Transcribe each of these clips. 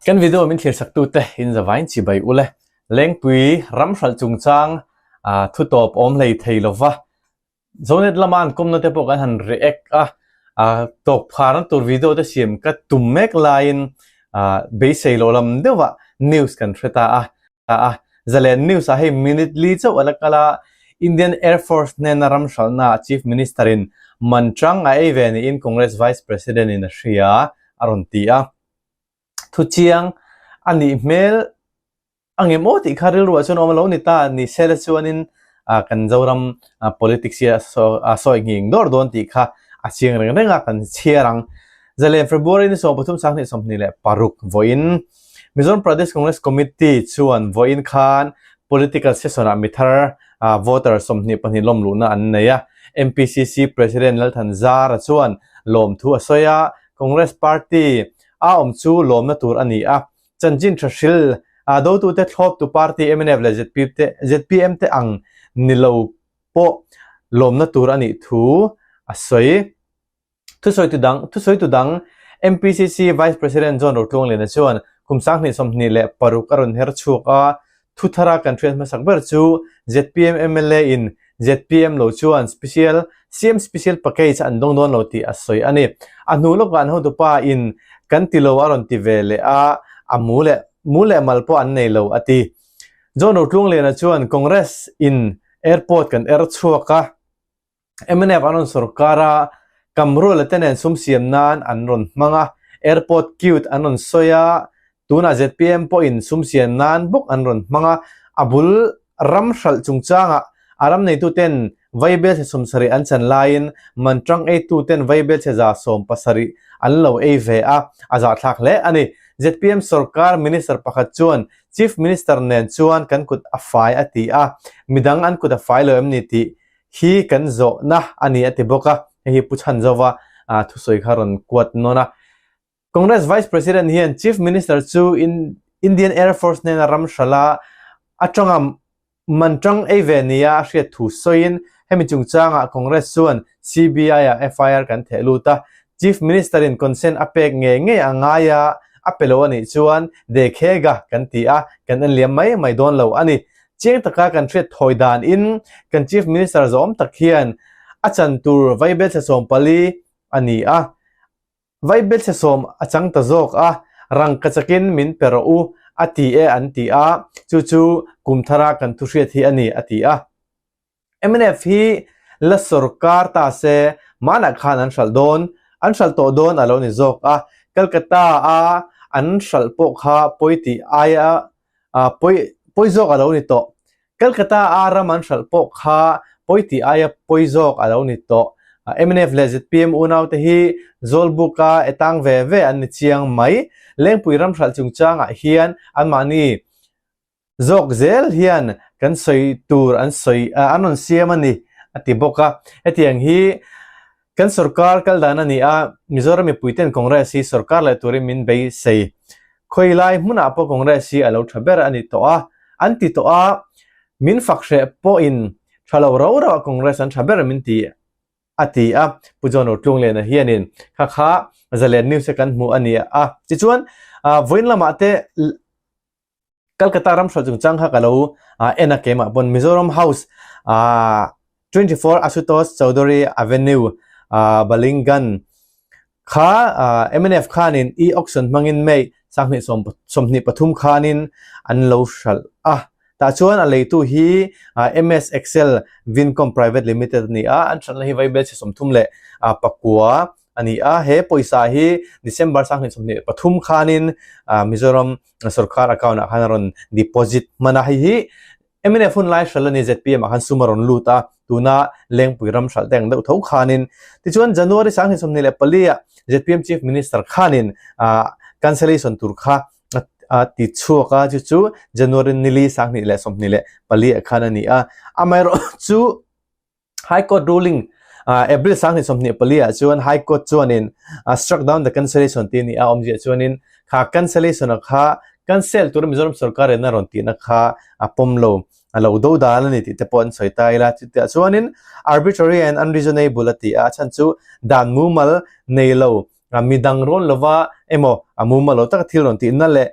Kan video min thirsaktute in zavain chibai u le, Lengpui ram hralh chungchang thutawp awm hlei thei lo va, Zonet lama an kawmna te pawh kan han react a, tawkphar na tur video te siam ka tum mek laiin beisei lo lam deuhah news kan hre ta a, ta a. Zalen News ah hei minute li chauh a la kal a, Indian Air Force hnena ram hralhna ah Chief Minister in man tang a ei ve niin Congress Vice President in a hria a rawn ti a. Thu chiang a nih hmel a nge maw tih kha rilru ah chuan a awm a lo ni ta, ni se la chuanin kan Zoram politics hi a sawi nghing dawr dawn tih kha a chiang reng reng a kan chhiar ang. Zalen February ni sawm pathum sang hnih sawmhnih leh paruk vawiin. Mizoram Pradesh Congress Committee chuan vawiin khan political session-ah mi thar voter sawmhnih pahnih lawm luhna an nei a. MPCC President Lalthan Zara chuan lawm thu a sawi a, Congress Party a awm chu lawmna tur a ni a, chanchin tha hril dotute thlawptu party mnf leh zpm te zpm te ang ni lo pawh lawmna tur a nih thu a sawi. Thusawi tudang, Thusawi tudang MPCC Vice President John Rotluanglena chuan kum sang hnih sawmhnih leh paruk a rawn her chhuak a, Thuthar a kan hriat hmasak ber chu zpm mla in zpm lo chuan special siam special package an dawng dawn lo tih a sawi a ni. A hnu lawkah an hotupa in kan ti lo a rawn ti ve leh a, a mu leh mu leh mal pawh an nei lo a ti. John Rotluanglena chuan Congress in airport kan er chhuak a, mnf an rawn sawrkar a, kam ruala te nen sum siam nan an rawn hmang a, airport cute an rawn sawi a, tunah zpm pawhin sum siam nan bawk an rawn hmang a, a bul ram hralh chungchangah a ram neitu ten vai belchhe sawm sarih an chan laiin man tang eitu ten vai belchhe za sawm pasarih an lo ei ve a, a zahthlak hle a ni. Zpm sawrkar minister pakhat chuan chief minister nen chuan kan kut a fai a ti a, midang an kut a fai lo em ni tih Hi kan zawhna a ni a ti bawk a, hei hi pu Chhanjova thusawi kha rawn kuat nawn a. Congress Vice President hian Chief Minister chu in Indian Air Force hnena ram hra la, a tanga man tang ei ve ni a hriat thu sawiin hemi chungchangah Congress chuan CBI-ah FIR kan theh lut a, Chief Minister-in consent a pek nge ngei a ngai a, a pe lo a nih chuan dekhe ga kan ti a, kan en liam mai mai dawn lo a ni. Chiang taka kan hriat thawi dan in kan Chief Minister zawm tak hian a chan tur Vaibel thlesawm pali a ni a. Vaibel thlesawm a chang ta zawk a, rangkachak in min pe rawh u a ti e an ti a, chu chu kum thara kan thu hriat hi a ni a ti a. Mnf hi la sorkar ta se manah khan an hralh dawn, an hralh tawh dawn a lo ni zawk a, Calcutta a an hralh pawh kha pawi tih aia pawi pawi zawk a lo ni tawh, Calcutta a ram an hralh pawh kha pawi tih aia pawi zawk a lo ni tawh. Mnf leh zpm unaute hi zawlbuka e tang ve ve an ni chiang mai, Lengpui ram hralh chungchangah hian anmahni zawk zel hian kan sawi tur an sawi ah an rawn siam a ni a ti bawk a, hetiang hi kan sorkar kal dan a ni a, Mizoram mipui ten Congress hi sorkar leh turin min beisei khawi lai hmunah pawh Congress hi a lo tha ber a ni tawh a, an ti tawh a, min fak hreh pawhin tha lo ro ro a Congress an tha ber min ti a ti a, Pu John Rotluanglena hianin kha kha Zalen News-a kan hmuh a ni a, tichuan vawiin lamah te Calcutta ramhrual chung chang kha ka lo en a kema pawn Mizoram House ah twenty four Ashutosh Chowdhury Avenue ah Balingan kha MNF khanin e auction hmangin May sanghnih sawmhnih pathum khanin an lo hralh a. Tah chuan a leitu hi MS Excel Vincom Private Limited a ni a, an hralhna hi Vaibel chhe sawmthum leh pakua a ni a, he pawisa hi December sang hlinchawhnih pathum khanin Mizoram sawrkar account ah khan a rawn deposit hman a, hei hi mnf hun lai hral a ni, zpm ah khan sum a rawn lut a, tuna Lengpui ram hralh teng deuh tho khanin. Tichuan January sang hlinchawhnih leh pali ah zpm Chief Minister khanin cancellation tur kha a ti chhuak a, chu chu January nili sang hnih leh sawmhnih leh pali ah khan a ni a, amaherawh chu High Court ruling April sang ni sawmhnih pali ah chuan High Court chuanin struck down the cancellation tih ni a awm zia chuanin kha cancellation a kha cancel tur Mizoram sawrkar en a rawn tihna kha a pawm lo a lo do dan a ni tih te pawh an sawi ta ila chuti ah chuanin arbitrary and unreasonable a ti a chan chu dan mumal nei lo midang rawn lova emaw a mumal lo taka thil rawn tihna leh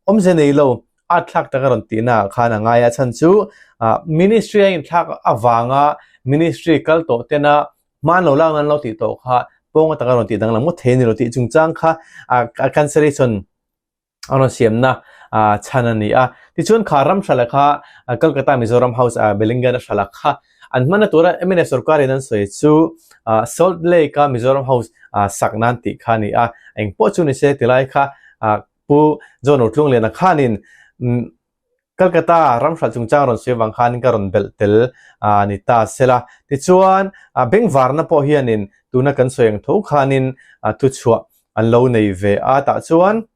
Awm zia nei lo, a thlak taka rawn tihna ah khan a ngai a chhan chu Ministry a inthlak avanga Ministry kal tawh tena hman lo lakna an lo tih tawh kha pawnga taka rawn tih danglam ngawt thei a ni lo tih chungchang kha a cancellation a rawn siamna chhan a ni a. Tichuan kha ram hralh kha Kolkata Mizoram House a Bellingan a hralh kha an hmanna tura MNF sawrkarin an sawi chu Salt Lake a Mizoram House sak nan tih kha a ni a, engpawh chu ni se tilai kha Pu John Ru Tlung Liana khanin Calcutta ramhral chungchang rawn sawi vang khanin ka rawn belh tel a ni ta sela. Tichuan bank varna pawh hianin tuna kan sawi ang tho khanin thuchhuah an lo nei ve a. Tah chuan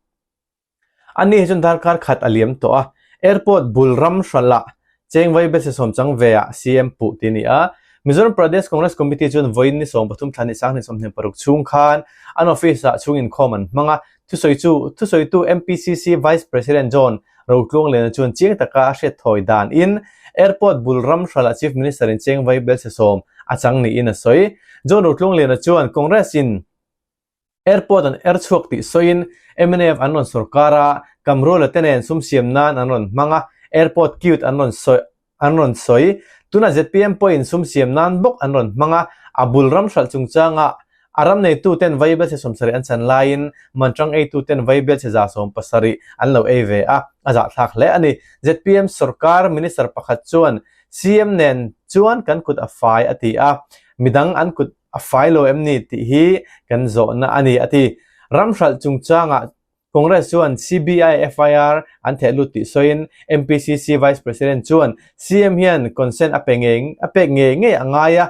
ani hi chuan darkar khat a liam tawh a, airport bul ramhralah Cheng vai bese sawm chang ve ah CM puh ti ni a. Mizoram Pradesh Congress Committee chuan vawiin ni sawm pathum thla ni sang ni sawmhnih paruk chhung khan an office ah chhung inkhawm an hmang a. Thusawi chu thusawitu MPCC Vice President John Rotluanglena chuan chiang taka a hriat thawi dan in Airport bul ram hral ah Chief Minister in cheng vai belse sawm a chang niin a sawi. John Rotluanglena chuan Congress in Airport an er chhuak tih sawiin MNF an rawn sawr kar a, Kamruala te nen sum siam nan an rawn hmang a, Airport Cute an rawn sawi an rawn sawi. Tunah zpm pawhin sum siam nan bawk an rawn hmang a, a bul ram hralh chungchangah a ram neitu ten vaibel chhe sawm sarih an chan laiin manṭang eitu ten vaibel chhe za sawm pasarih an lo ei ve a, a zahthlak hle a ni. Zpm sawrkar minister pakhat chuan cm nen chuan kan kut a fai a ti a, midang an kut a fai lo em ni tih hi kan zawhna a ni, a ti. Ram hralh chungchangah Congress chuan CBI FIR an thehlut tih sawiin MPCC Vice President chuan CM hian consent a pe nge a pek nge ngei a ngai a,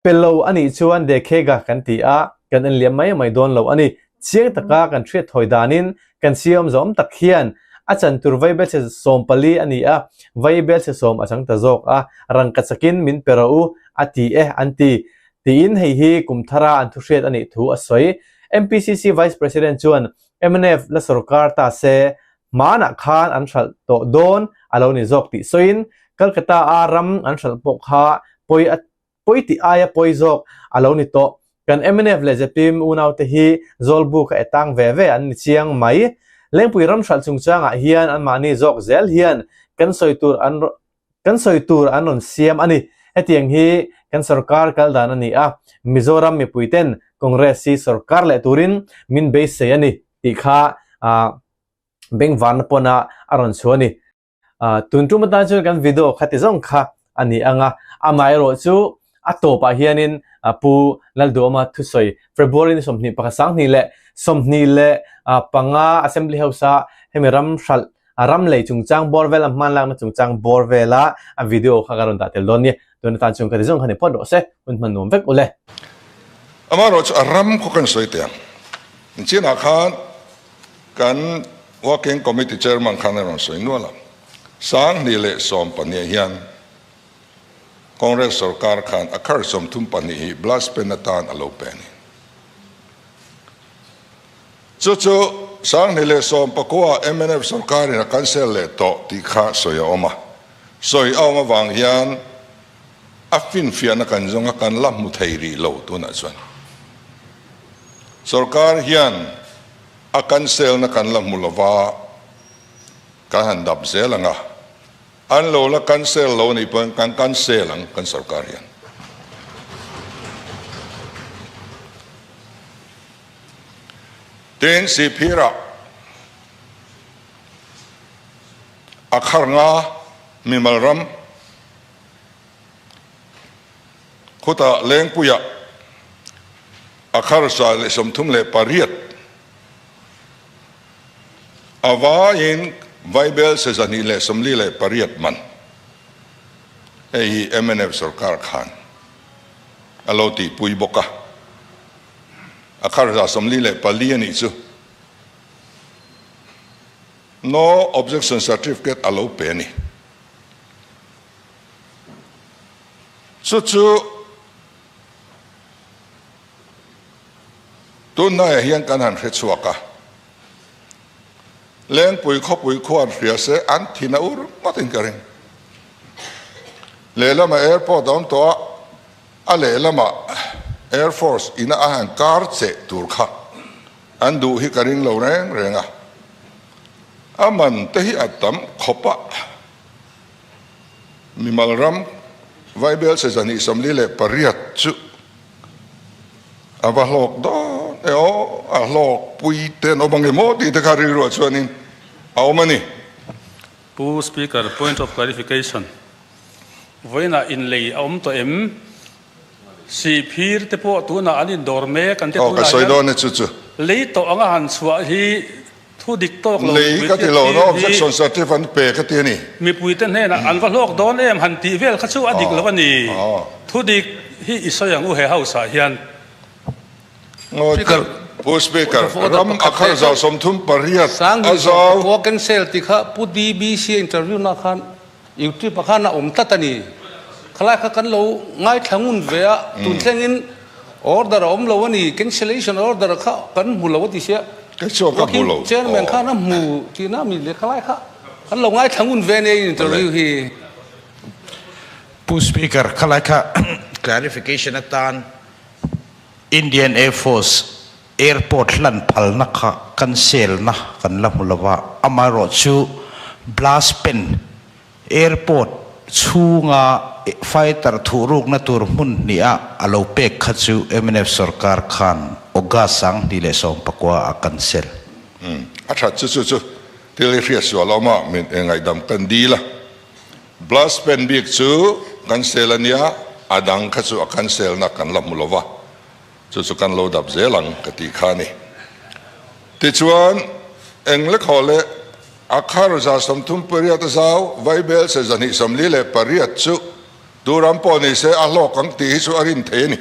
pe lo a nih chuan dekhe ga kan ti a, kan en liam mai mai dawn lo a ni, Chiang taka kan hriatthawi danin kan siam zawm tak hian a chan tur vaibelchhe sawm pali a ni a, vaibelchhe sawm a chang ta zawk a, rangka chakin min pe rawh u a ti e an ti, tiin hei hi kum thara an thu hriat a nih thu a sawi. MPCC Vice President chuan mnf la sorkar ta se hmanah khan an hralh tawh dawn a lo ni zawk tih sawiin Calcutta-a ram an hralh pawh kha pawi a Pawi tih aia pawi zawk a lo ni tawh. Kan mnf leh Zepim unaute hi zawlbu kha etang ve ve an ni chiang mai. Lengpui ramhralh chungchangah hian anmahni zawk zel hian kan sawi tur an kan sawi tur an rawn siam a ni. Hetiang hi kan sorkar kal dan a ni a, Mizoram mipuiten Congress hi sorkar leh turin min beisei a ni tih kha Bengvarna pawnah a rawn chhu a ni. tun tum atan chuan kan video khati zawng kha a ni anga amai rawh chu a tawpah hianin pu lalduama thusawi february ni sawmhnih pakhat sanghnih leh sawmhnih leh panga assembly house a hemi ram hralh ram lei chungchang bawr vel an hmanlakna chungchang bawr vela a video kha kan rawn dah tel dawn ni. tun atan chuan ka ti zawng kha ni phawt rawh se, hun hman nuam vek u le. Amaherawh chu a ram khaw kan sawi tel. Chianah khan kan Working Committee Chairman khan a rawn sawi nual a, Sanghnih leh Sawm pahniha hian Congress sorkar khan a khar sawm thum pahnih hi blast pen atan a lo pe a ni. Chu chu Sanghnih leh Sawmpakhua mnf sawrkarin a cancel leh tawh tih kha sawi a awm a, sawi a awm avang hian a finfiahna kan zawnga kan la hmu thei rih lo tunah chuan sawrkar hian a cancelna kan la hmu lova kan han dap zel ang a, an lo la cancel lo nih pawhin kan cancel ang kan sawrkar hian. Tin, Sihphir ah a khar nga mimal ram khut ah Lengpui ah a khar sa leh sawmthum leh pariat a vai in Vaibel sa zahnih leh sawmli leh pariat man hei hi mnf sorkar khan a lo tihpui bawk a. a khar za sawmli leh pali a nih chu No Objection Certificate a lo pe a ni. Chu chu tunhnaia hian kan han hre chhuak a, Lengpui khawpui khuan hria se an thin a ur ngawtin ka ring. Lehlamah airport a awm tawh a, A lehlamah Air Force ina a han kar che tur kha an duh hi ka ring lo reng reng a. A man te hi a tam khawp a, mimal ram Vaibel Seza Nihsamli leh pariat chu a va hlawk dawn e aw, a hlawk pui te an awm ange maw tih te kha rilruah chuan in a awm a ni. Pu Speaker, point of clarification. Vawiinah inlei a awm tawh em? Sihphir te pawh tunah an indawr mek an ti tunah hian lei tawh anga han chhuah hi thu dik tawk lo mipui te hnenah an va hlawk dawn em han tih vel kha chu a dik lo a ni. Thu dik hi i sawi ang u he house ah hian. Speaker, Pu Speaker, ram a khalh zau sawmthum pariat a zau. Khua cancel ti kha Pu DBC a interview na khan YouTube ah khan a awm tlat a ni. Khalai kha kan lo ngaithla ngun ve a, tun thleng in order a awm lo a ni, cancellation order kha kan hmu lo a ti sia. Kei chu ka hmu lo. Chairman khan a hmu tih na a mi le, khalai kha kan lo ngaithla ngun ve a nia interview hi. Pu Speaker, khalai kha clarification atan. Indian Air Force airport hlan phalna kha kan selna kan la hmu lova, amaherawh chu Blaspen airport chhunga fighter thuh rukna tur hmun hnih a a lo pek kha chu mnf sawrkar khan August sang hnih leh sawm pakua a cancel. A that chu chu chu thil hi hriat sual a awm a, min ngaidam kan dil a. Blast pen bik chu kan sel a nia, a dang kha chu a cancel nak kan la hmu lo va, chu chu kan lo dap zel ang ka tih kha a ni. Tichuan, eng lek haw le a khar za sawmthum pariat a zau, Vaibel se za hnihsawmli leh pariat chu turam pawh ni se a hlawk ang tih hi chu a rin thei a ni.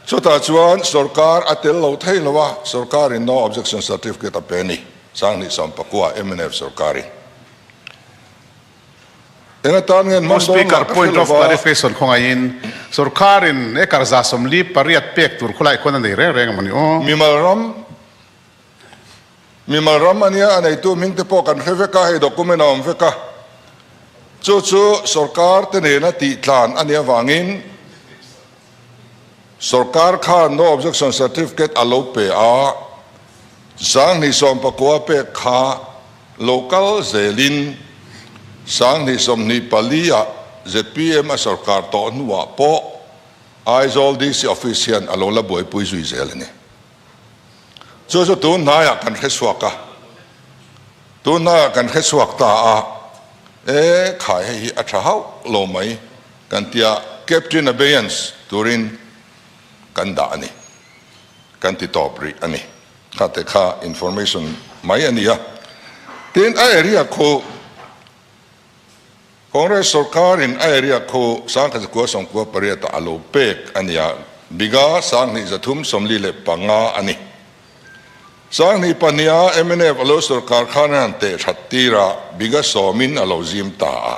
Chutah chuan sorkar a tel lo thei lo a, sorkarin no objection certificate a pe a ni, Sanghnih Sampakua, mnf sorkarin. Eng atan ngen hmang dawn lah ka hre lo a. House Speaker, Point of clarification khawngaihin sorkarin e karza sawmli pariat pek tur khawlai khuana nei reng reng a maw ni aw? Mimalram. Mimal ram a nia, a neitu ming te pawh kan hre vek a, hei document a awm vek a, chu chu sawrkar te nena tih tlan a nih avangin sawrkar khan no objection certificate a lo pe a, sang hnisawm pakua pek kha lo kal zelin sang hnisawm hnih pali ah zpm a sawrkar tawh hnuah pawh Aizawl DC office hian a lo la buaipui zui zel a ni. Chu chu tunhnaiah kan hresuak a, tunhnaiah kan hresuak ta a, e khai hei hi a tha hauh lo mai kan tia captain abeyance turin kan dah a ni, kan ti tawp rih a ni. Kha te kha information mai a ni a, tin a area khu. Congress sorkarin a eriak kho sangkhat zakua sawmkua pariata a lo pek a nia, Biga sanghnih zathum sawmli leh panga a ni. Sanghnih pahniha mnf a lo sorkar khan a han teh that tir a, Biga sawmin a lo zim ta a.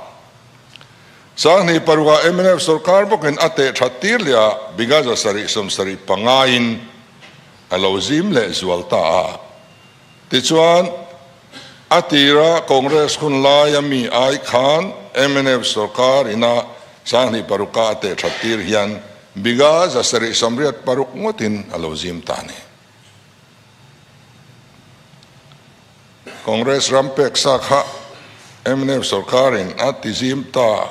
Sanghnih parua mnf sorkar bawkin a teh that tir leh a, Biga zasarih sawmsarih pangain a lo zim leh zual ta a. Tichuan, a tira Congress hun lai a mi ai khan MNF sorkar ina Sanghnih paruk-a a teh that tir hian Big-a zasarih samriat paruk ngawtin a lo zim ta ni. Congress ram peksa kha MNF sorkarin a tizim ta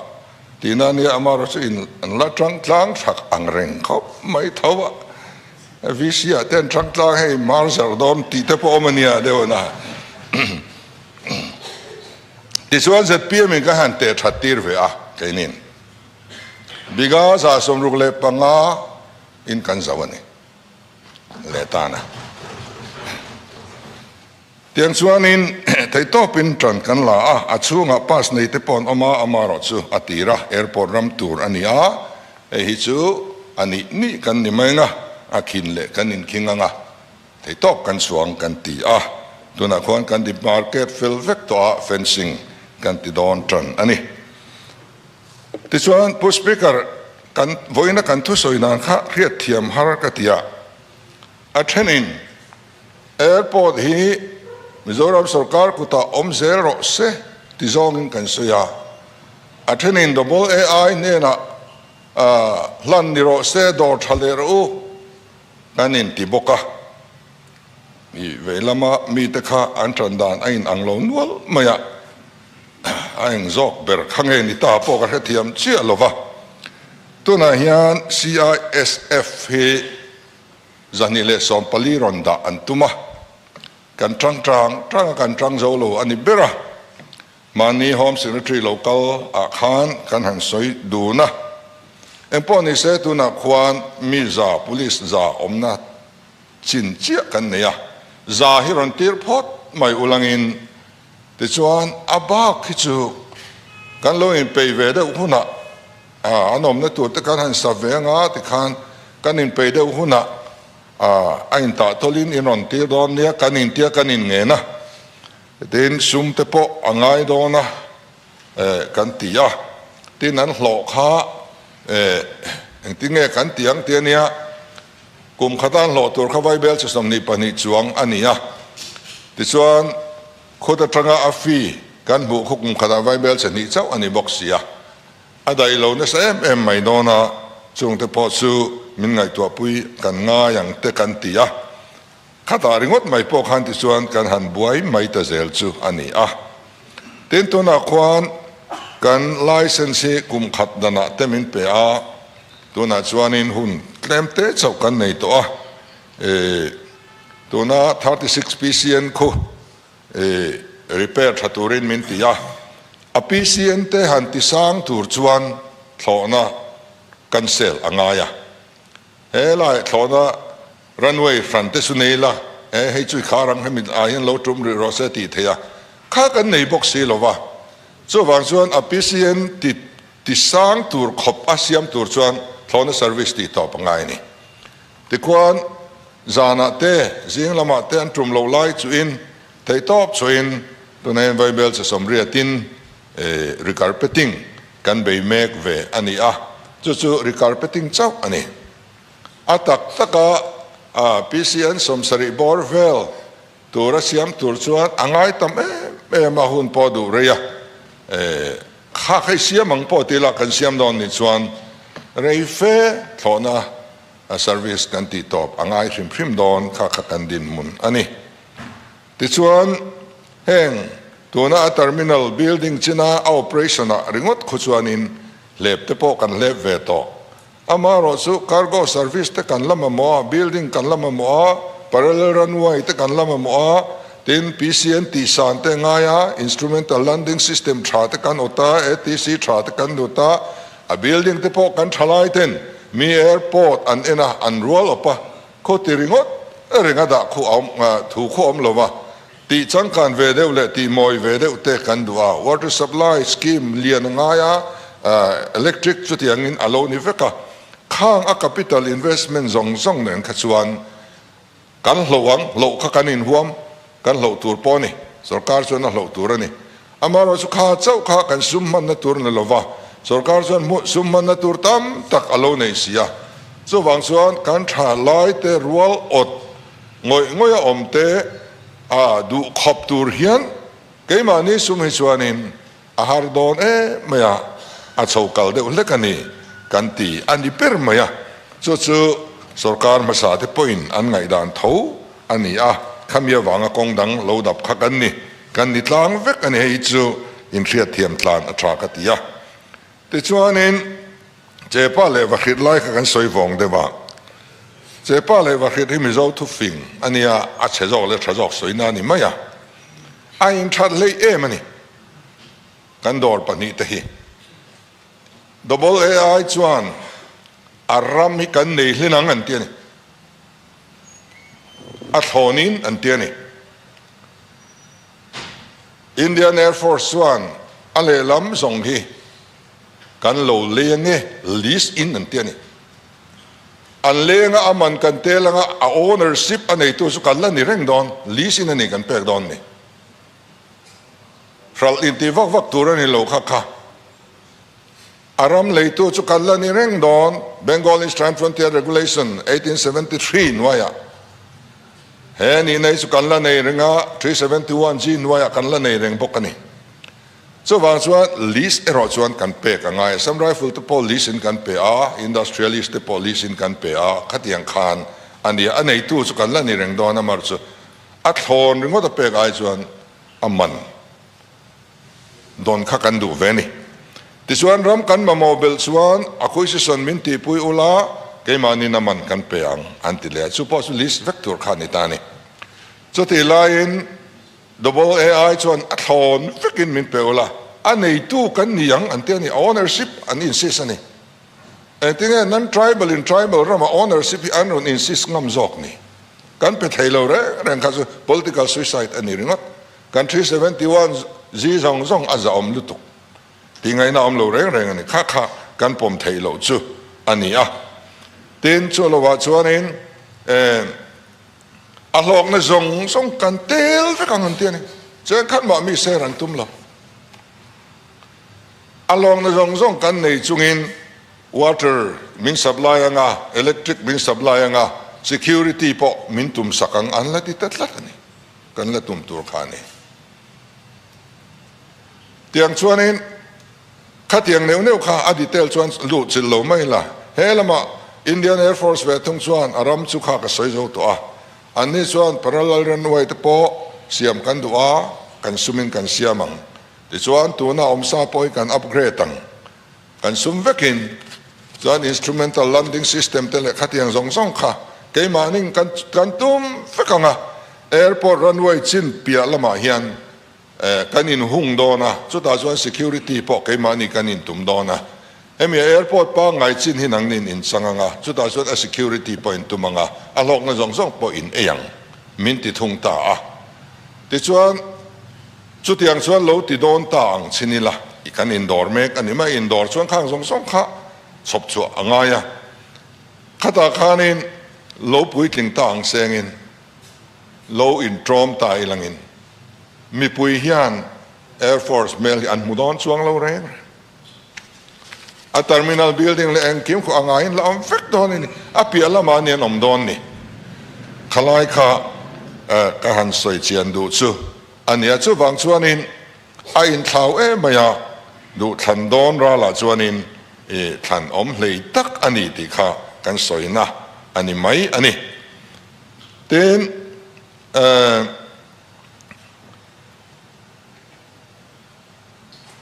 tihna ania, amarawh chu in la tangtlang thlak ang reng khawp mai tho a. VC ah ten thangtlang hei mar zarh dawn tih te pawh awm a nia deuh an a tichuan zpm in ka han teh that tir ve a keinin biga za sawmruk leh panga in kan zauh a ni leh tan a. Tiang chuanin theitawpin ṭan kan la a, a chhungah pass nei te paw'n awm a, amarawh chu a tir a, airport ram tur a ni a, hei hi chu a nih nih kan ni mai nga, a khin leh kan inkhing anga theitawp kan chuang kan ti a, tunah khuan kan dip market fel vek tawh a fencing kan ti dawn ṭan a ni. Tichuan Pu Speaker, kan vawiina kan thusawi nan kha hriatthiam har ka ti a, a ṭhenin, Airport hi Mizoram sawrkar kutah awm zel rawh se ti zawngin kan sawi a. A thenin AA-i hnenah hlan ni rawh se, dawr tha leh rawh u kan inti bawk a. I veilamah mite kha an tan dan a inang lo nual mai a, a eng zawk ber kha nge ni ta pawh ka hrethiam chiah lo va. Tunah hian CISF hi Zahnih leh sawm pali rawn dah an tum a, kan tang tang tang a kan tang zo lo a ni ber a, mahni Home Secretary lo kal ah khan kan han sawi dun a, engpawh ni se tunah khuan mi za Police za awmna chin chiah kan nei a, za hi rawn tir phawt mai ulangin Tichuan, a bak hi chu kan lo inpeih ve deuh hunah an awmna tur te kan han sa ve anga ti khan kan inpeih deuh hunah a intah tawlhin in rawn tir dawn nia, kan intia kan inngen a, tin sum te pawh a ngai dawn a kan ti a, tin an hlawh kha engtinge kan ti ang tia nia. Kum khat a hlawh tur kha Vaibel chawsam nih pahnih chuang a ni a. Tichuan, kut atanga a fee kan hmuh khaw kum khatah Vaibel chahnih chauh a ni bawk sia. A daih lo nasa em em mai dawna chungte pawh chu min ngaihtuahpui kan ngai ang te kan ti a. Khatah ringawt mai pawh khan tichuan kan han buai mai ta zel chu a ni a. Tin tunah khuan kan licence hi kum khat danah te min pe a, tunah chuanin hun tlem te chauh kan nei tawh a. Tuna thirty six PCN khu repair tha turin min ti a, a PCN te han tisang tur chuan thlawhna cancel a ngai a. Helai thlawna runway front te chu nei la, he hei chu i khar ang, hemi ah hian lo tum rih rawh se tih theih a kha kan nei bawk si lo va. Chuvang chuan a PCN ti ti sang tur khawp a siam tur chuan thlawna service tih tawh pangngai a ni. Tikhuan zanah te, zing lamah te an tum loh lai chuin thei tawp chhuahin tunaiin vaibel chasawm riatin, Recarpeting kan bei mek ve a ni a, chu chu recarpeting chauh a ni. A tak taka PCN sawm sarih bawr vel tur a siam tur chuan a ngai tam em em a, hun pawh a duh rei a. Khak hei siam ang pawh ti ila kan siam dawn ni chuan rei fe thlawhna service kan tihtawp a ngai hrim hrim dawn kha kha kan dinhmun a ni. Tichuan, heng tuna a terminal building china a operation ah ringawt khaw chuan in hlep te pawh kan hlep ve tawh. Ama erawh chu cargo service te kan la mamawh a, building kan la mamawh a, parallel runway te kan la mamawh a, tin PCN tih san te ngai a, instrumental landing system tha te kan awt a, ATC tha te kan lut a, a building te pawh kan tha lai ten mi airport an en a, an rual awp a. Khaw ti ringawt reng a dah khuh awm thu khuh awm lova, tih changkan ve deuh leh tih mawi ve deuh te kan duh a, water supply scheme lian a ngai a, electric chutiangin a lo ni vek a, khang a capital investment zawng zawng nen kha chuan kan hlauh ang, hlauh kha kan inhuam, Kan hloh tur pawh a ni. Sorkar chuan a hloh tur a ni. Amaherawh chu kha chauh kha kan sum hmanna tur ni lo va. Sorkar chuan hmuh sum hmanna tur tam tak a lo nei si a. Chuvang chuan kan tha lai te rual awt ngawih ngawih a awm te a duh khawp tur hian keimahni sum hi chuanin, A har dawn em mai a, a chho kal deuh hlek a ni kan ti a ni ber mai a, chu chu sorkar hmasa te pawhin an ngaihdan tho a ni a, khami avanga kawng dang lo dap kha kan ni, kan ni tlang vek a ni hei chu inhriat thiam tlan a tha ka ti a. Tichuanin Chepa leh Vahrit lai kha kan sawi vawng deuh a, Chepa leh Vahrit hi Mizo thufing a nia, a chhe zawk leh tha zawk sawina a ni mai a, a inthat hleih em a ni. Kan dawr pahnih te hi double a ai chuan a ram hi kan nei hlin ang an ti a ni. A thlawn in an ti a ni. Indian Air Force chuan a lehlam zawng hi kan lo leng e lease in an ti a ni. An leng a a man kan tel ang a, a ownership a neitu chu kan la ni reng dawn, lease in a nih kan pek dawn a ni. Hralh inti vak vak tur a ni lo kha kha. A ram leitu chu kal la ni reng dawn. Bengal Eastern Frontier Regulation eighteen seventy three hnuaiah he ni nei chu kan la nei reng a, three seventy one G hnuaiah kan la nei reng bawk a ni. Chuvang chuan lease erawh chuan kan pek a ngai. Assam Rifle te pawh lease in kan pe a, Industrialist te pawh lease in kan pe a, khatiang khan a nia. A neitu chu kan la ni reng dawn a mar chu. A thlawn ringawt a pek ai chuan a man dawn kha kan duh ve ni. Tichuan ram kan mamawh belh chuan a khuisison min tihpui ula keimahnin a man kan pe ang an ti leh a, chu pawh chu list vek tur kha a ni ta ni. Chutih laiin double ai chuan a thlawn vekin min pe ula a neitu kan ni ang an ti a ni, a ownership an insist a ni. Engtinge nan tribal in tribal rama ownership hi an rawn insist ngam zawk ni? Kan pe thei lo reng reng kha chu political suicide a ni ringawt. Country seventy one zi zawng zawng a zahawm lutuk tih ngaihna a awm lo reng reng a ni. Kha kha kan pawm thei loh chu a ni a. Tin, chu lo vah chuanin em a hlawkna zawng zawng kan tel vek ang an ti a ni. Chuan khan mah mi ser an tum lo. A lawmna zawng zawng kan nei chungin water min supply ang a, electric min supply ang a, security pawh min tum sak ang an la ti ta tlat a ni, kan la tum tur kha a ni. Tiang chuanin khatiang neuh neuh kha a detail chuan luh chilh lo mai la, he lama Indian Air Force ve thung chuan a ram chu kha ka sawi zo tawh a, anni chuan parallel runway te pawh siam kan duh a, kan sumin kan siam ang. Tichuan tuna awm sa pawh hi kan upgrade ang, kan sum vekin chuan instrumental landing system te leh khatiang zawng zawng kha keimahni'n kan kan tum vek ang a, airport runway chin piah lamah hian eh kan inhung dawn a, chutah chuan security pawh keimahni kan intum dawn a, hemi airport pangngai chin hi nangni'n inchang ang a, chutah chuan a security pawh intum ang a, a hlawkna zawng zawng pawh in ei ang min ti thung ta a. Tichuan. Chutiang chuan lo ti dawn ta ang chhin ila, i kan indawr mek a ni mai, indawr chuan khang zawng zawng kha chhawp chhuah a ngai a, khata khanin lo puitling ta ang sengin lo inṭawm ta i langin mipui hian Air Force hmel hi an hmu dawn chuang lo reng reng. A terminal building leh engkim khuh a ngaiin la awm vek dawn i ni, a piah lamah a ni an awm dawn ni. Khalai kha ka han sawi chian duh chu a nia, chuvang chuanin a inthlau em mai a, duhthlan dawn ralah chuanin i thlan awm hlei tak a ni tih kha kan sawina a ni mai a ni. Tin, eh.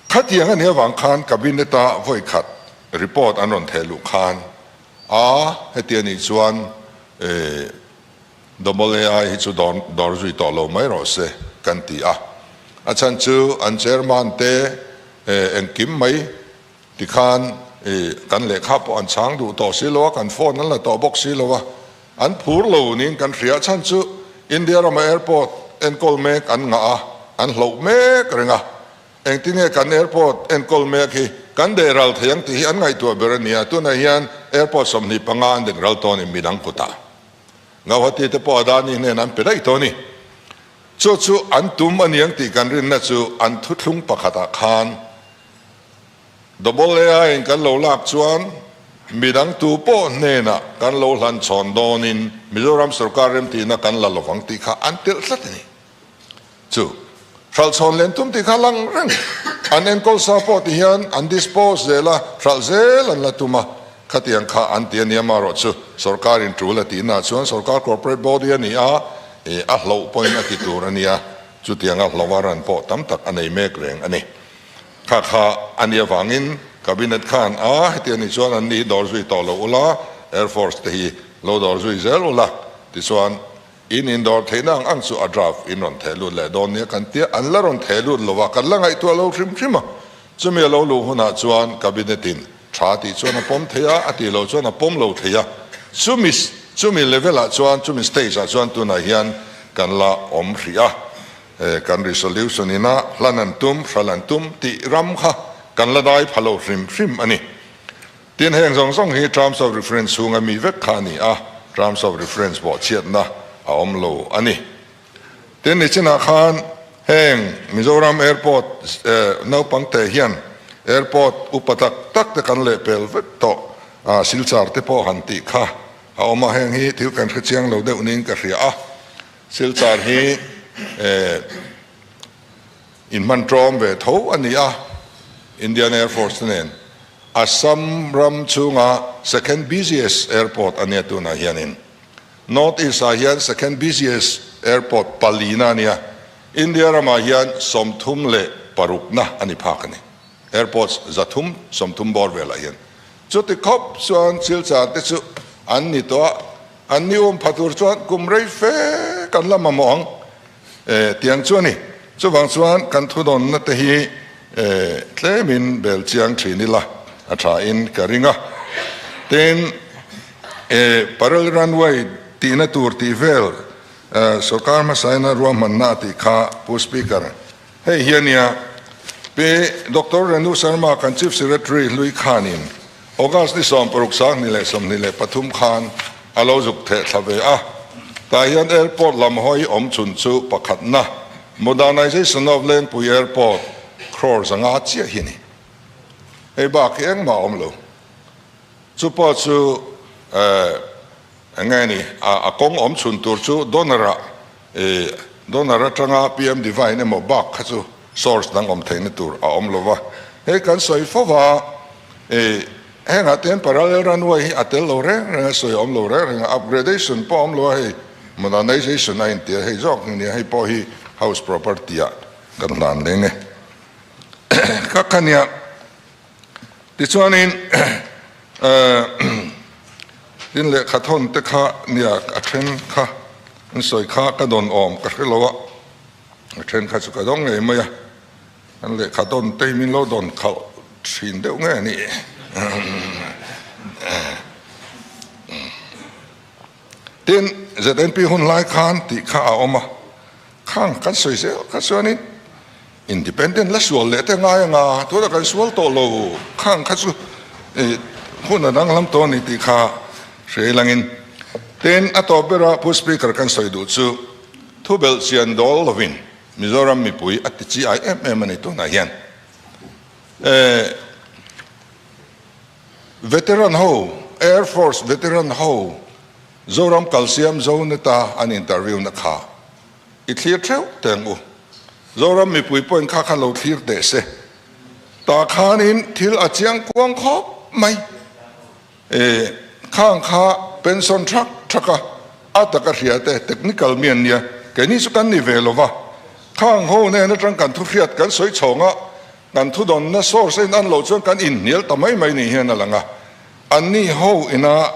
Khatiang ani avang khan Cabinet-a vawi khat report an rawn theh luh khan a hetiang nih chuan Double ai hi chu dawr zui tawh lo mai rawh se kan ti a. A chhan chu an Chairman te engkim mai tikhan kan lehkha pawh an chhang duh tawh si lo a, kan phone an la tawh bawk si lo a, An phur lo niin kan hria chhan chu India rama airport enkawl mek an ngah a, an hloh mek reng a. Engtinge kan airport enkawl mek hi kan deh ral thei ang tih hi an ngaihtuah ber a nia, tunah hian airport sawmhnih panga an deng ral tawnin min ang kut a. Gauhati te pawh Adani hnenah an pe daih tawh a ni. Chu chu an tum a ni ang tih kan rinna chu an thuthlung pakhatah khan, Double AI-in kan lo lak chuan midang tu pawh hnenah kan lo hlan chhawn dawnin Mizoram sorkar remtihna kan la lovang tih kha an telh tlat a ni. Chu hralh chhawn len tum tih kha lang reng an enkawl sa pawh ti hian an dispose zel a, hralh zel an la tum a, khatiang kha an ti a nia. Marawhchu sorkar intul a tihnaah chuan sorkar corporate body a ni a, a hloh pawhin a ti tur a nia. Chutianga hloh a ran pawh tam tak a nei mek reng a ni. Kha kha a nih avangin Cabinet khan a heti a ni chuan an ni hi dawr zui tawh loh ula, Air Force te hi lo dawr zui zel ula tichuan in in dawr theihna ang ang chu a draft in rawn theh lut leh dawn nia kan tia an la rawn theh lut lova kan la ngaihtuah a lo hrim hrim a, chumi a lo luh hunah chuan Cabinet in tha tih chuan a pawm thei a, a tih loh chuan a pawm lo thei a, chumi chumi level ah chuan chumi stage ah chuan tunah hian kan la awm hrih a. He kan resolution in a hlan an tum, hral an tum tih ram kha kan la dai pha lo hrim hrim a ni. Tin, heng zawng zawng hi terms of reference chhung a mi vek kha a ni a, terms of reference vawhchhiatna a awm lo a ni. Tin, nichinah khan heng Mizoram Airport naupang te hian Airport upa tak tak te kan leh pel vek tawh, a silchar te pawh han tih kha a awm a, heng hi thil kan hre chiang lo deuh niin ka hria a. Silchar hi in hman tawm ve tho a ni a, Indian Air Force-te nen Assam ram chhunga second busiest airport a nia tunah hianin North East-ah hian second busiest airport palina a nia, India ramah hian sawmthum leh parukna a ni phak a ni, airports za thum sawmthum bawr velah hian Chuti khawp chuan thil chan te chu an ni tawh a, an ni um pha tur chuan kum rei fe kan la mamawh ang e tiang chu a ni. Chuvang chuan kan thudawnna te hi e tlemin bel chiang thin ila a tha in ka ring a. Tin, e Parel Runway tihna tur tih vel e sorkar hmasaina ruahmanna a tih kha Pu Speaker, Hei hi a nia, Pe Doctor Renu Sharma kan Chief Secretary Hlui Khanin August ni sawm paruk sangni leh sawmhnih leh pathum khan a lo zuk theh thla ve a. Tah hian Airport lam hawi awm chhun chu pakhatna Modernization of Lengpui Airport crore zanga chiah hi a ni. Hei bak hi engmah a awm lo. Chu pawh chu eh enge a ni a kawng awm chhun tur chu donor a E, Donor atanga PM Divine emaw bak kha chu source dang awm theihna tur a awm lova, hei kan sawi fo va, e, hengah ten parallel runway hi a tel lo reng reng a, sawi a awm lo reng reng a, upgradation pawh a awm lo a hei, modernization a inti a, hei zawk hi nia, hei pawh hi house property-ah kan hlan leng e, ka khania. Tichuanin tin leh khat hawn te kha nia a then kha in sawi kha ka dawn awm ka hre lo a, a then kha chu ka zawng ngei mai a, an leh khat hawn te hi min lo dawn khalh thin deuh ngei a ni. Tin, znp hun hlai khan tih kha a awm a, khang kan sawi zel kha chuanin independent la sual leh te ngai anga tuna kan sual tawh lo khang kha chu hun a danglam tawh a ni tih kha hrei langin. Tin, a tawp bera Pu Speaker kan sawi duh chu thubelh chian dawl lovin Mizoram mipui a tichiai em em a ni tunah hian. Ehh. Veteran ho, Air Force Veteran ho, Zoram Kalsiam Zoneta an interview na kha i thlir theuh teng u. Zoram mipui pawhin kha kha lo thlir teh se. Tah khanin thil a chiang kuang khawp mai. E, khang kha pension thak thak a, a taka hria te technical mi an nia. Keini chu kan ni ve lo va. Khang ho nen atang kan thu hriat kan sawi chhawng a, Kan thudawnna source a in an lo chuan kan in hnial ta mai mai nih hian a lang a, an ni ho ina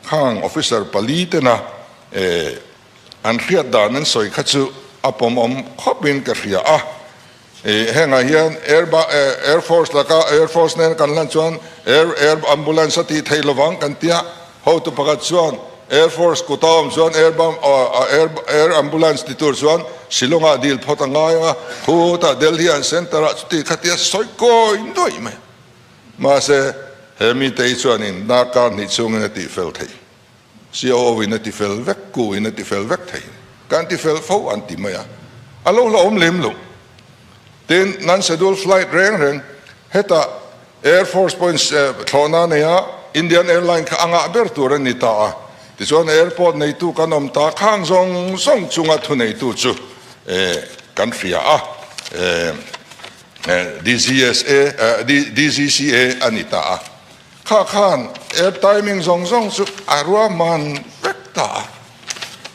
khang officer pali tena eh an hriat dan an sawi kha chu a pawmawm khawp in ka hria a, eh hengah hian air ba air force laka air force nen kan lan chuan air air ambulance a tih theih lovang kan tia. Hotu pakhat chuan Air Force kut a awm chuan Air Ambulance ti tur chuan Shillong ah dil phawt a ngai ang a, phut a Delhi an centre ah chuti khatia sawi kawi nuaih mai. Mahse he mite hi chuanin na kar hnih chungin a tih fel thei, COO in a ti fel vek, Ku in a ti fel vek thei, kan ti fel fo an ti mai a, a lo hlauhawm lem lo. Tin, nan schedule flight reng reng heta Air Force points thlawhna neia Indian Airline kha a ngah ber tur a ni ta a, tichuan airport neitu kan awm ta khang zawng zawng chunga thuneitu chu kan hria a, DGCA a ni ta a. Kha khan air timing zawng zawng chu a ruahman vek ta a,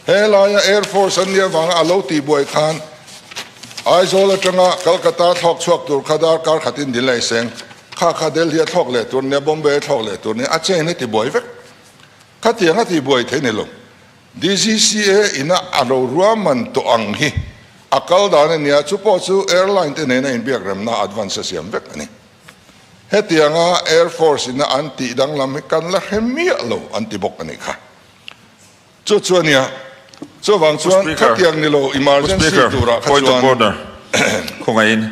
helaia Air Force an nih avanga a lo tihbuai khan Aizawl atanga Calcutta a thlawk chhuak tur kha dar kar khatin Delhi seng kha kha Delhi a thlawk leh tur nia Bombay a thlawk leh tur nia a chain a tibuai vek khatiang a tihbuai thei nilo DGCA ina a lo ruahman tawh ang hi a kal dan a nia chupawh chu airline te nena inbiak remna advance a siam vek a ni. Hetiang a Air Force ina an tih danglam hi kan la hre miah lo an ti bawk a nih kha. Chu chu a nia. Chuvang chuan khatiang ni lo emergency turah kha chuan. Khawngaihin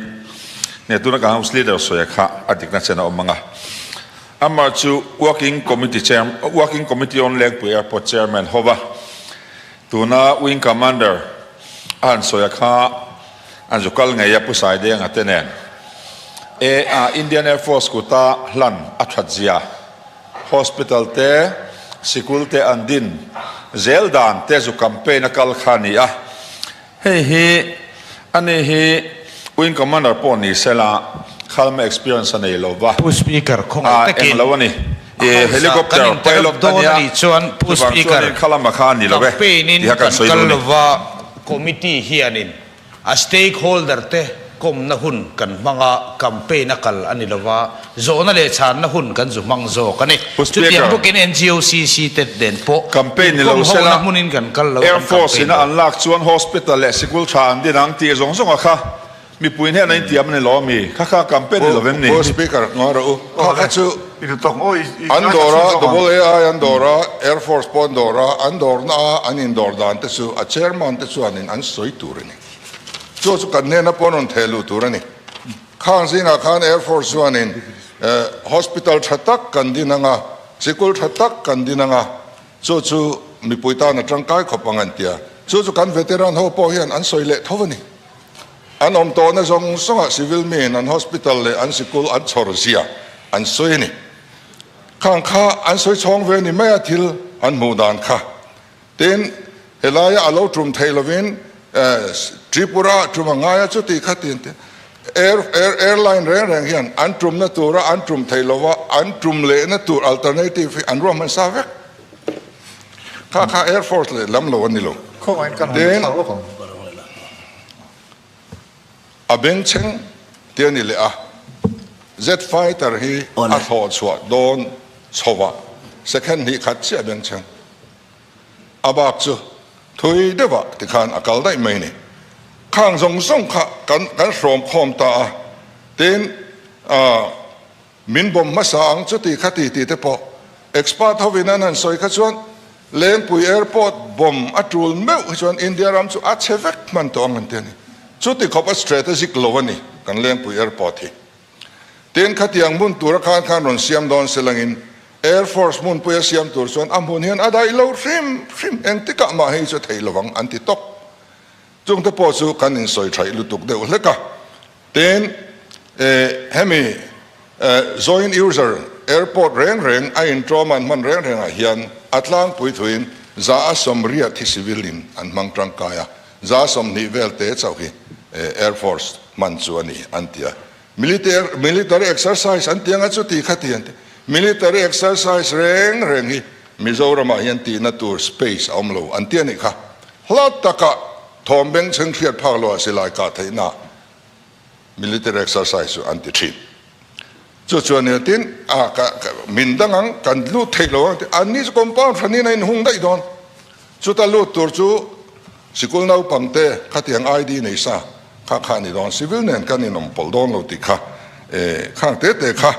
hne tuna ka House Leader sawiah kha a dikna chen a awm ang a. Amah chu Working Committee Chairman, Working Committee on Lengpui Airport Chairman Hova Tuna Wing Commander a han sawi a kha an zu kal ngei a Pu Saidenga te nen. E a Indian Air Force kuta hlan a that zia, hospital te, sikul te an din zel dan te zu campaign a kal kha a ni a. Hei hi a ni hi Wing Commander pawh ni sela khalma experience a nei lova. Pu Speaker khawngei takin. Ahh englo a ni. I Helicopter Pilot a nia chuvang chuan in khalama kha a ni lo e tih a kan sawi dawn a ni. Committee hianin a Stakeholder te. Kawmna hun kan hmang a, campaign a kal a ni lo va, zawhna leh chhanna hun kan zu hmang zawk a ni. Chutiang bukin NGOCC te nen pawh inkawm hona hmunin kan kal lo, kan campaign lo. An lak chuan hospital leh sikul tha an din ang tih zawng zawng a kha mipuiin hian a intiam a ni lo a mi kha kha campaign ni lo em ni? Speaker, Ngawi rawh u, kha kha chu an dawr a, double ai an dawr a, airforce pawh an dawr a, an dawrna a an indawr dan te chu a chairman te chuanin an sawi tur a ni. Chu chu kan hnena pawh rawn theh luh tur a ni. Khang zingah khan Air Force chuanin Hospital tha tak kan din ang a, sikul tha tak kan din ang a, chu chu mipui tan a tangkai khawp ang an tia. Chu chu kan Veteran ho pawh hian an sawi leh tho a ni. An awm tawhna zawng zawngah Civil miin an Hospital leh an sikul an chhawr zia an sawi a ni. Khang kha an sawi chhawng ve ni mai a thil an hmuh dan kha. Tin, helaia a lo tum thei lovin Tripura a tum a ngai a chuti kha tin te air airline reng reng hian an tumna tura an tum thei lova an tum lehna tur alternative hi an ruah hman sa vek kha kha airforce leh lam lo a ni lo. Khawngaiin kan han thar lawk ang. A beng chheng te a ni leh a, Z-Fighter hi a thlawh chhuah dawn chhova second hnih khat chiah a beng chheng. A bak chu thui deuha ti khan a kal daih mai ni. Khang zawng zawng kha kan hrawm khawm ta a, tin a. Min bawm hmasa ang chuti kha ti tih te pawh expert hovin an han sawi kha chuan Lengpui airport bawm a tul meuh hi chuan India ram chu a chhe vek hman tawh ang an ti a ni. Chuti khawp a straight a zik lo a ni kan Lengpui airport hi. Tin khatiang hmun tura khan khan rawn siam dawn se langin Air Force hmunpui a siam tur chuan a hmun hian a daih lo hrim hrim engtikah mah hi chu thei lovang an ti tawp. Chung te pawh chu kan insawi thaih lutuk deuh hlek a. Tin, eh, hemi, eh, joint user airport reng reng a inṭawm an hman reng rengah hian a tlangpui thuin za a sawmriat hi civil in an hmang ṭangkai a, za sawmhnih vel te chauh hi, eh, air force hman chu a ni, an ti a. Militer, Military Exercise an ti anga chuti kha ti an ti. Military Exercise reng reng hi Mizoramah hian tihna tur space a awm lo an ti a nih kha. Hla takah thawm bengchheng hriat phak loh a si lai kah theihna ah Military Exercise chu an ti thin. Chu chuan ni tin a ka min dang ang kan hlut theih lo ang ti. An ni chu compound hranin a inhung daih dawn. Chuta lut tur chu sikul naupang te khatiang ID nei sa kha kha ni dawn, civil nen kan inawm pawlh dawn lo tih kha e khang te te kha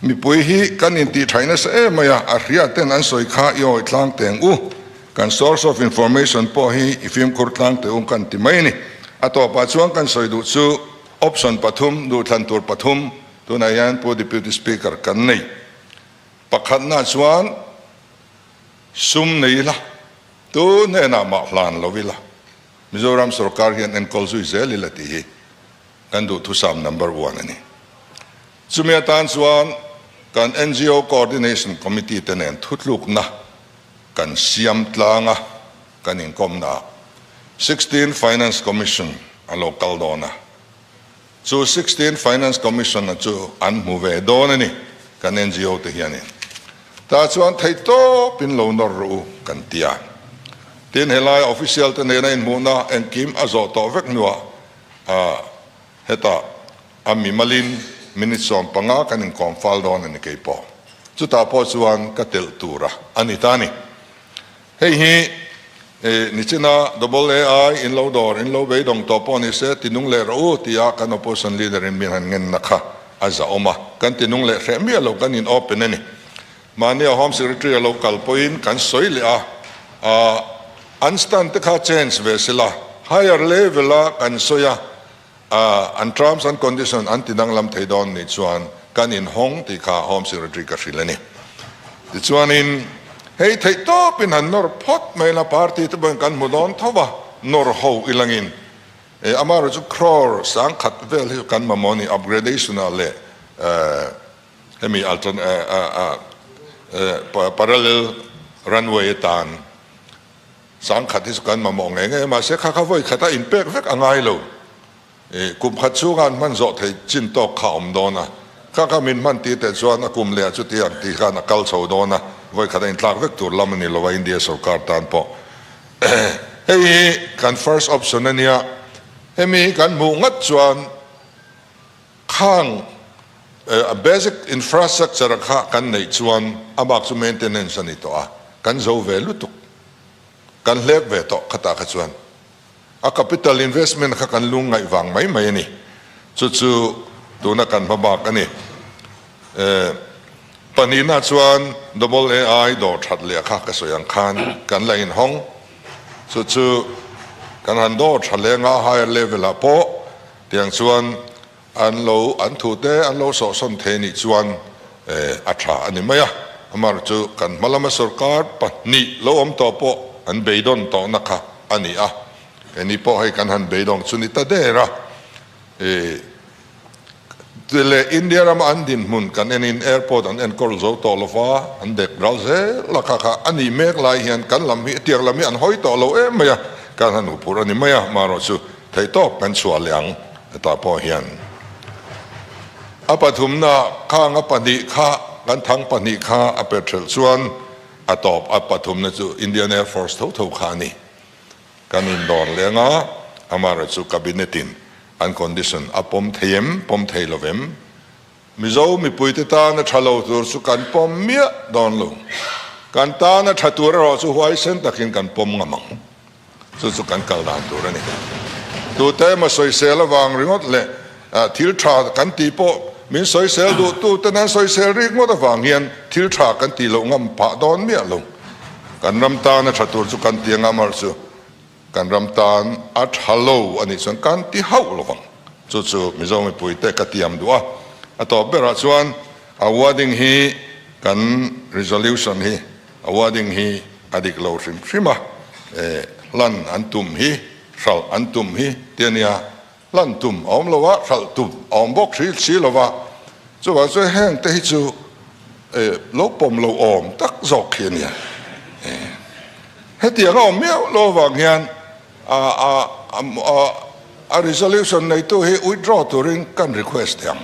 mipui hi kan intih thaih nasa em mai a, a hriat ten an sawi kha i awih tlang teng u, kan source of information pawh hi i fimkhur tlang teh u kan ti mai a ni. A tawpah chuan kan sawi duh chu option pathum, duhthlan tur pathum, tunah hian Pu Deputy Speaker kan nei pakhatna chuan, Sum nei ila, tu hnenah mah hlan lo ila, Mizoram sorkar hian enkawl zui zel ila tih hi kan duhthusam number one a ni. Chumi atan chuan kan NGO Coordination Committee te nen thutlukna kan siam tlang a, kan inkawmna ah sixteen Finance Commission a lo kal dawn a. Chu sixteen Finance Commission-a chu an hmu ve dawn a ni, kan NGO te hianin ta chuan thei tawpin lo nawr rawh u kan ti a, tin helai official te nena inhmuhna engkim a zawh tawh vek hnuah heta a mimalin minute sawm panga kan inkawm fal dawn a ni keipawh chutah pawh chuan ka telh tura a ni ta a ni. Hei hi eh ni chin a double ai in lo dawr in lo beidawng tawh pawh ni se tinung leh rawh u tia kan opposition leader in min han ngen na kha a zahawm a kan tinung leh hreh miah lo kan in open a ni mahnia home secretary a lo kal pawh in kan sawi leh a ah an stand te kha change ve sila higher level a kan sawi a. A, an terms and conditions an tidanglam thei dawn nih chuan kan inhawng tih kha Home Secretary ka hrilh a ni. Tichuanin hei theih tawpin han nawr phawt mai la, party te pawhin kan hmu dawn tho va, nawr ho i langin e, ama erawh chu crore sangkhat vel hi kan mamawh a ni, upgradation ah leh hemi alternate, parallel runway atan. Sang khat hi chu kan mamawh ngei ngei a, mahse kha kha vawi khata inpek vek a ngai lo. Ih, kum khat chunga an hman zawh thei chin tawk kha a awm dawn a, kha kha min hman ti teh chuan a kum leh a chuti ang tih khan a kal chho dawn a, vawi khata intlak vek tur lam a ni lo a India sorkar tan pawh. Hei hi kan first option a nia, hemi kan hmuh ngat chuan Khang a basic infrastructure a kha kan neih chuan a bak chu maintenance a ni tawh a, kan zo ve lutuk, kan hlek ve tawh khatah kha chuan a capital investment kha kan lung ngaih vang mai mai a ni. Chu chu tuna kan hma bak a ni. Pahnihna chuan AAI dawr that leh kha ka sawi ang khan kan la inhawng, chu chu kan han dawr tha leh anga higher level ah pawh Tiang chuan an lo an thu te an lo sawhsawn thei nih chuan a tha a ni mai a, amaherawh chu kan hma lama sawrkar pahnih lo awm tawh pawh an beidawn tawhna kha a ni a, keini pawh hei kan han beidawng chu ni ta der a, ih leh India rama an dinhmun kan en in airport an enkawl zo tawh lova an bek ral zel a kha kha a nih mek lai hian kan lam hi tiang lam hi an hawi tawh lo em mai a, kan han huphurh a ni mai a, amaherawh chu Theih tawk kan chhuah leh ang hetah pawh hian a pathumna khang a pahnih kha kan thang pahnih kha a pe ṭhelh chuan a tawp a pathumna chu Indian Air Force tho tho kha a ni. Kan indawn leh ang a, amaherawh chu Cabinet in an condition a pawm thei em, pawm thei lo em? Mizo mipuite tan a ṭha lo tur chu kan pawm miah dawn lo. Kan tan a ṭha tur erawh chu huaisen takin kan pawm ngam ang. Chu chu kan kal dan tur a ni. Tute emaw sawisel avang ringawt leh thil tha kan tih pawh min sawisel duh tuten an sawisel rik ngawt avang hian thil tha kan tih loh ngam phah dawn miah lo. Kan ram tan a tha tur chu kan ti anga mar chu kan ram tan a tha lo a nih chuan kan ti hauh lo vang. Chu chu Mizo mipuite ka tiam duh a. A tawp berah chuan a wording hi kan resolution hi. Awarding hi a dik lo hrim hrim a, eh, hlan an tum hi, hralh an tum hi ti a nia. Hlan tum a awm lo a, hralh tum a awm bawk hri si lo va. Chuvang chuan heng te hi chu, eh, lo pawm lo awm tak zawk khi a nia. Eh, hetiang a awm miau lo avang hian, A resolution neitu hi withdraw turin kan request theih ang.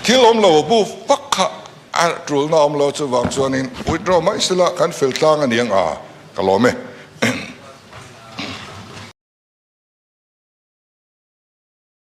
Thil awm lo bu vak kha a tulna awm lo chuvang chuanin withdraw mai sela kan fel tlang a ni ang a, ka lawm e.